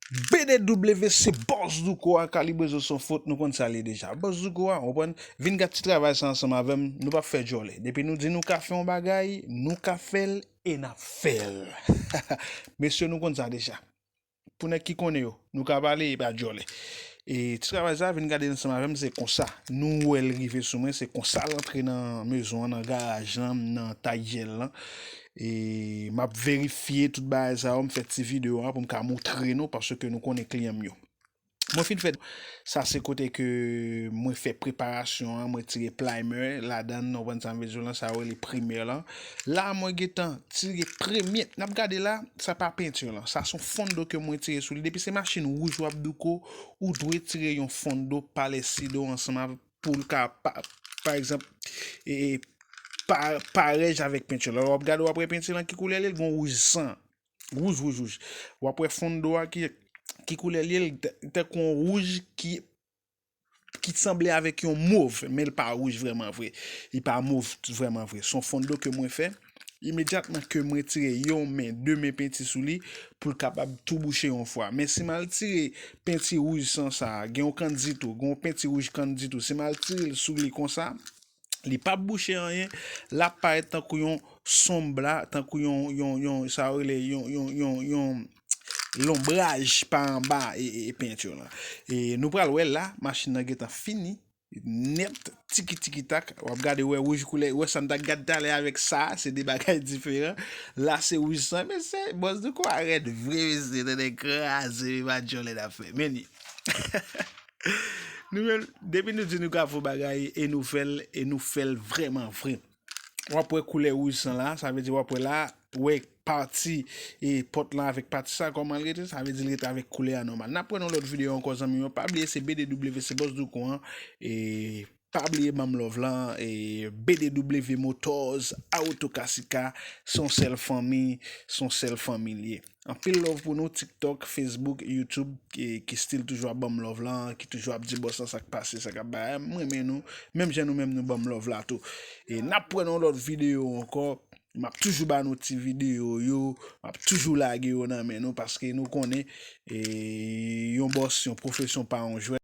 BDW se Boss Douko a Calibre Zo Son Fot nou konn sa l ye deja Boss Douko a ou konprann vin gad ti travay sa ansanm avè m nou pap fè djòlè depi nou di nou ka fè yon bagay nou ka fè l e n ap fè l mesye nou konn sa deja pou nèg ki konnen yo nou ka pale e pa djòlè e ti travay sa vin gade l ansanm avè m se konsa nou wè l rive sou mwen se konsa l antre nan mezon an nan garaj lan nan taille gel lan. E map verifye tout bagay sa yo, m fè ti video a pou m ka moutre nou paske nou konnen kliyan m yo. Mwen fin fè sa se kote ke mwen fè preparasyon an, mwen tire plimer ladan, ou konn sa m vle di w lan, sa yo rele primer lan. La mwen gentan tire premye, n ap gade la, sa pa peinture lan, sa son fond d'eau ke mwen tire sou li. Depi se machin wouj w ap douko, ou dwe tire yon fond d'eau pa lè si d'eau ansanm avèk. pou l ka pa pa egzanp e pa parèj avèk penti yo. Lè wap gade wap wè penti lan ki koulè li, li gon wouj san. Wouj wouj wouj. Wap wè fon do a ki ki koulè li, li tankou yon wouj ki ki sanble avèk yon mov, men l pa wouj vrèman vre. Li pa mov vrèman vre. Son fon do ke mwen fè. imedyatman kem retire yon men de men penti sou li poul kapab tou bouche yon fwa men si mal tire penti rouj san sa gen yon kandit ou gen yon penti rouj kandit ou si mal tirel sou li konsa li pap bouche anyen lap parèt tankou yon sonb la tankou yon yon yon sa yo rele yon yon yon yon lonbraj pa anba e e penti yo lan e nou pral wè la machin nan gentan fini Net tiki tiki tak wap gade wè wouj koulè wè sa m ta gad talè avèk sa se 2 bagay diferan la se wouj san mesye bòs douko a rèd vre mesye tande kraze viv a djòlè nap fè meni nou menm depi nou di nou ka fon bagay e nou fèl e nou fèl vrèman vre. wap wè koulè wouj san la, sa vle di wap wè la, wè pati e pòt lan avèk pati sa kòman l rete, sa vle di l rete avèk koulè a nòmal. Nap wè nan lòt videyo ankò zanmi yo, pa bliye se BDW se Boss Doucou an, e pa bliye banm love lan, e BDW Motors, Auto Cassica, son sèl fanmi, son sèl fanmi l ye. Anpil love pou nou tiktok, facebook, youtube ki stil toujou ap banm love la, ki toujou ap di boss lan sak pase sa kap bay, m renmen nou menm jan nou menm nou banm love la tou. E nap pran yon lòt video ankò, map toujou ba nou ti video yo, map toujou lage yo nan men nou paske nou konnen yon boss, yon profesyon pa yon jwèt.